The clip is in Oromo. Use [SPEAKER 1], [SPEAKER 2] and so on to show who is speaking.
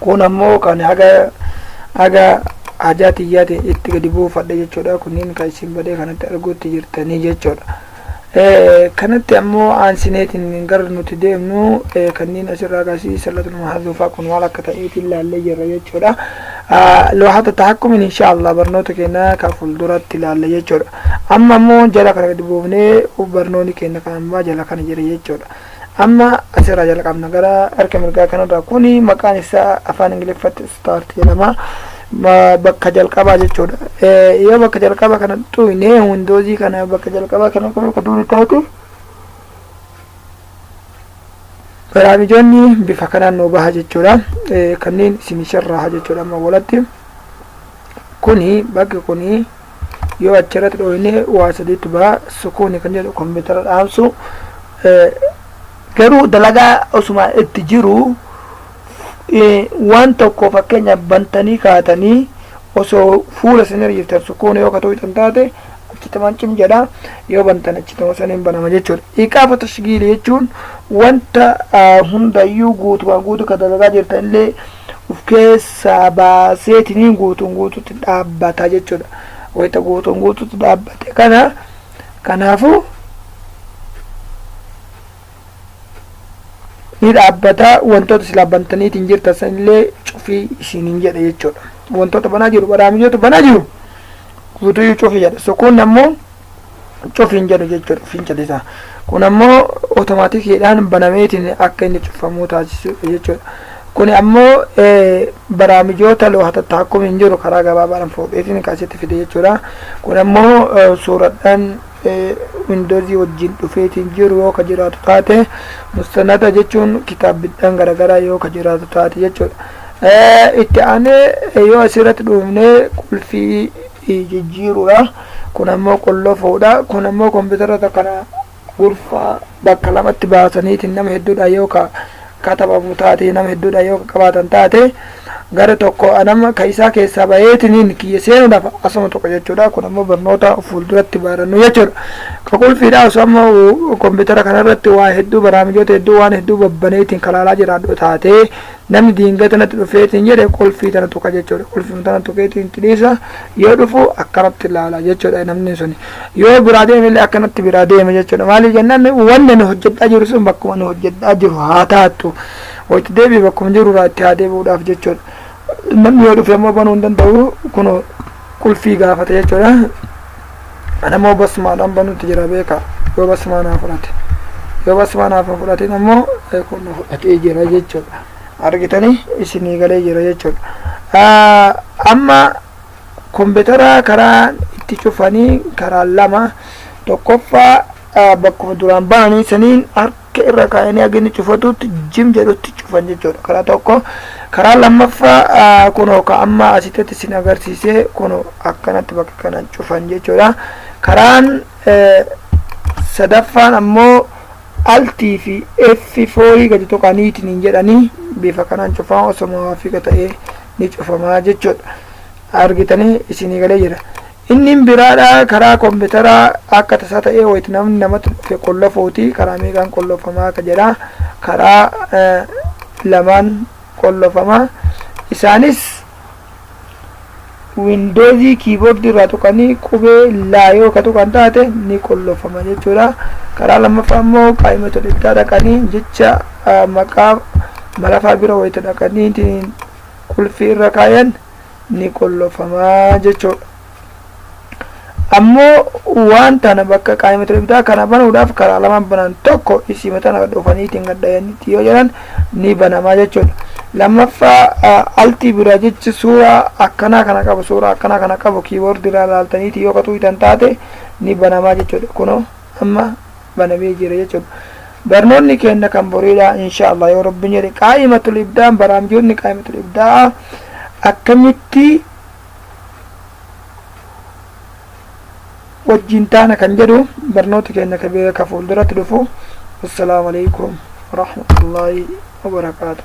[SPEAKER 1] kun ammoo kan haga haga hajaa tiyyaati itti gadi buufadhe jechuudha kunniin kan isin badee kanatti arguutti jirtanii jechuudha kanatti ammoo aansineetiin gara nuti deemnu kanniin asirraa gasii sallatul mahazuufaa kun maal akka ta'eetiin laallee jirra jechuudha loohata tahakkumin insha allah barnoota keenya kan fuulduratti laalla jechuudha amma ammoo jala kana gadi buufnee barnooni keenya kan ammaa jala kana jira jechuudha Amma asirraa jalqabna gara harka mirgaa kanarraa kuni maqaan isaa afaan ingiliffatti start jedhama Ma- bakka jalqabaa jechuudha Eh, yoo bakka jalqabaa kana xuyne windoozii kana bakka jalqabaa kana qofa akka durii taate baraamijoonni bifa kanaan nuu baha jechuudha Eh, kanneen isin sharraaha jechuudha amma walatti kuni bakki kuni yoo achirratti dhooyne waa sadiitu baha sukuuni kan jedhu kompiitara dhaamsu garuu dalagaa osuma itti jiru waan tokko fakkeenya bantanii kaatanii osoo fuula isin hiriirtan sukuuni yoo katuu hitan taate achitti mancin jedha yoo bantan achitti masaniin banama jechuudha iqaafu tashgiili jechuun wanta hundayyuu guutumaan guutu ka dalagaa jirtan illee of keessaa baaseetiniin guutuun guututti dhaabbata jechuudha. Wayita guutuun guututti dhaabbate kana kanaafuu ni dhaabbata wantoota silaa bantaniitiin jirtan sanillee cufii isiniin jedha jechuudha. Wantoota banaa jiru baraamijoota banaa jiru guutuu cufii jedha. So kun ammoo cufiin jedhu jechuudha finca isaa kun ammoo otomaatikiidhaan banameetiin akka inni cufamuu taasisuudha jechuudha kun ammoo baraamijoota looha tattaakkum hin jiru karaa gabaabaadhaan fuudheetiin kaasitti fide jechuudha kun ammoo suuradhaan windoozii wajjin dhufeetiin jiru yoo ka jiraatu taate mustanada jechuun kitaabbidhaan garagaraa yoo ka jiraatu taate jechuudha itti aanee yoo asirratti dhuufnee qulfii jijjiiruudha. Kun ammoo qollofuudha. Kun ammoo kompiitaroota kana gurfaa bakka lamatti baasaniitiin nama hedduudhaan yoo ka katabamu taate nama hedduudhaan yoo ka qabaatan taate gara tokko anama ka isaa keessaa baheetiniin kiyya seenuudhaaf asuma tokko jechuudha. Kun ammoo barnoota fuulduratti barannu jechuudha. Ka qulfiidha osoo ammoo kompiitara kanarratti waa hedduu baraamijoota hedduu waan hedduu babbaneetiin kalaalaa jiraadhu taate Namni diingata natti dhufee ittiin jedhe qulfii tana tuqa jechuudha. Qulfii tana tuqeetiin itti dhiisa yoo dhufu akkanatti ilaala jechuudha namni sun. Yoo biraa deeme illee akkanatti biraa deema jechuudha. Maaliif jennaan wanni nu hojjedhaa jiru sun bakkuma nu hojjedhaa jiru haa taatu. Wayitti deebi'e bakkuma jiru irraa itti haa deebi'uudhaaf jechuudha. Namni yoo dhufe ammoo banuu hin danda'u kun qulfii gaafata jechuudha. Anamoo basmaadhaan banuutti jira beekaa yoo basmaa naa fudhate yoo basmaa naaf hin fudhatin ammoo kun na fudhatee jira jechuudha argitanii isinii galee jira jechuudha amma kompiitara karaan itti cufanii karaan lama tokkoffaa bakkuma duraan bananii saniin akka irra kaayanii akka inni cufatutti jim jedhutti cufan jechuudha karaa tokko karaa lammaffaa ah, kunoo ka amma asitti isin agarsiisee kunoo akkanatti bakka kana cufan jechuudha karaan eh, sadaffaan ammoo altii fi f foorii gadi tuqaniitiin hin jedhanii bifa kanaan cufaa osoo maafiika ta'ee ni cufamaa jechuudha argitanii isinii galee jira Innin biraadha karaa kombitaraa akka tasaa ta'ee wayit namni namatti dhufe qollofuuti karaa meeqaan qollofamaa ka jedha karaa lamaan qollofama isaanis windoozii kiiboordii irraa tuqanii qubee laa yoo ka tuqan taate ni qollofama jechuudha karaa lammaffaa immoo qaayima tolittaa dhaqanii jecha maqaa malafaa bira wayita dhaqanii qulfii irra kaayan ni qollofama jechuudha. Ammoo waan tana bakka qaa'imatul ibdaa kana banuudhaaf karaa lama banan tokko isiima tana gad oofaniitiin gad dhayanitti yoo jedhan ni banama jechuudha. Lammaffaa altii biraa jechi suuraa akkanaa kana qabu suuraa akkanaa kana qabu kiiboordi irraa laaltaniitii yoo qaxuuytan taate ni banama jechuudha. Kunoo. amma banamee jira jechuudha. Barnoonni keenna kan boriidha insha Allah yoo Rabbiin jedhe qaa'imatul ibdaa'an baraamjoonni qaa'imatul ibdaa'a akkamitti wajjin taana kan jedhu barnoota keenya ka beeka fuulduratti dhufu. Assalaamu alaikum warahmatullaahi wabarakaatuh.